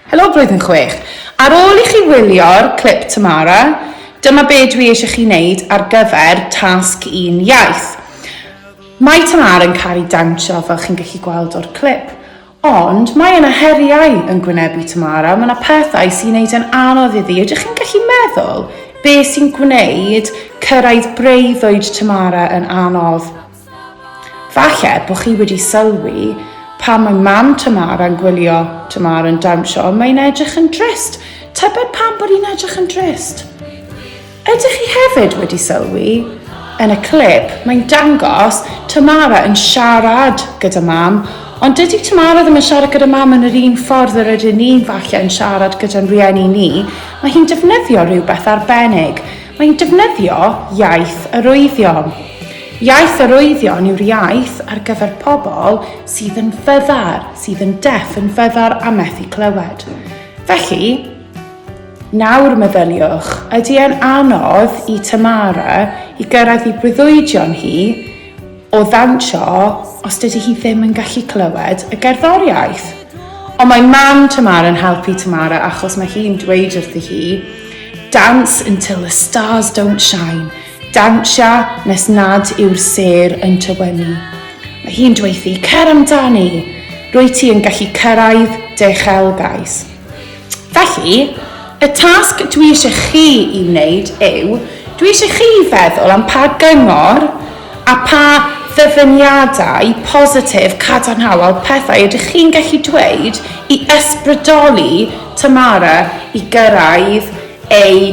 Helo Blwyddyn Chwech! Ar ôl i chi wylio'r clip Tamara, dyma be dwi eisiau chi wneud ar gyfer tasg un iaith. Mae Tamara yn caru dawnsio fel chi'n gallu gweld o'r clip. Ond mae yna heriau yn gwynebu Tamara, mae yna pethau sy'n neud e'n anodd iddi. Ydych chi'n gallu meddwl be sy'n gwneud cyrraedd breuddwyd Tamara yn anodd? Falle bod chi wedi sylwi, pan mae mam Tamara yn gwylio Tamara yn dawnsio, mae hi'n edrych yn drist. Tybed pam bod hi'n edrych yn drist? Ydych chi hefyd wedi sylwi, yn y clip, mae'n dangos Tamara yn siarad gyda mam, ond dydy Tamara ddim yn siarad gyda mam yn yr un ffordd yr ydyn ni falle yn siarad gyda'n rhieni ni. Mae hi'n defnyddio rhywbeth arbennig. Mae hi'n defnyddio iaith arwyddion. Iaith arwyddion yw'r iaith ar gyfer pobl sydd yn fyddar, sydd yn deff, yn fyddar a methu clywed. Felly, nawr meddyliwch, ydy e'n anodd i Tamara i gyrraedd i breuddwydion hi o ddawnsio os dydy hi ddim yn gallu clywed y gerddoriaeth? Ond mae mam Tamara'n helpu Tamara achos mae hi'n dweud wrthi hi, Dance until the stars don't shine. Dawnsio nes nad yw'r sêr yn tywynnu. Mae hi'n dweuthu, Cer amdani! Rwyt ti yn gallu cyrraedd dy uchelgais. Felly, y tasg dwi eisiau chi i wneud yw, dwi eisiau chi i feddwl am pa gyngor a pha ddyfyniadau positif, cadarnhaol, pethau ydych chi'n gallu dweud i ysbrydoli Tamara i gyrraedd ei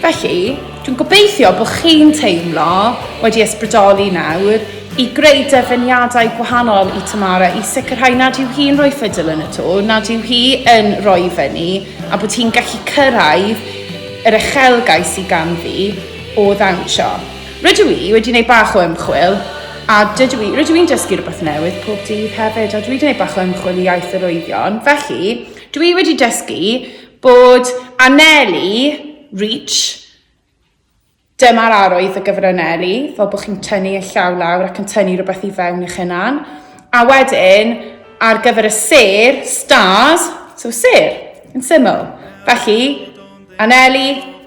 Felly, dwi'n gobeithio bod chi'n teimlo wedi ysbrydoli nawr i greu derfyniadau gwahanol i Tamara i sicrhau nad yw hi'n rhoi ffidil yn y to, nad yw hi yn rhoi i fyny a bod hi'n gallu cyrraedd yr uchelgais sydd ganddi o ddawnsio. Rydw i wedi gwneud bach o ymchwil a dydw i, rydw i'n dysgu rhywbeth newydd pob dydd hefyd a dwi wedi gwneud bach o ymchwil i iaith yr oeddion, felly dwi wedi dysgu Bod anelu, reach, Dyma'r arwydd o gyfranelu, fel bod chi'n tynnu eich llaw lawr ac yn tynnu rhywbeth i fewn i'ch hunan. A wedyn, ar gyfer y sêr, stars, so sêr, yn syml. Felly, anelu,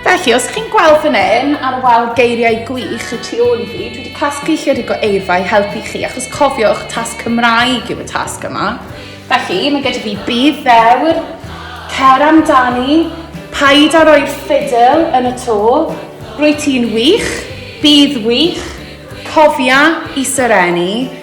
Felly, os chi'n gweld fan hyn ar y wal geiriau gwych y tu ôl i fi, dwi wedi casglu lle'r rhywbeth eirfa i helpu chi, achos cofiwch, tasg Cymraeg yw y tasg yma. Felly, mae gyda fi bydd ddewr, cer amdani, paid a roi'r ffidl yn y to, rwy ti'n wych, bydd wych, cofia i serenu,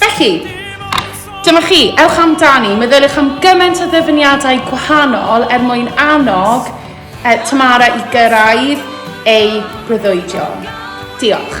Felly, dyma chi, ewch amdani, meddyliwch am gymaint o ddyfyniadau gwahanol er mwyn annog e, Tamara i gyrraedd ei breuddwydion. Diolch.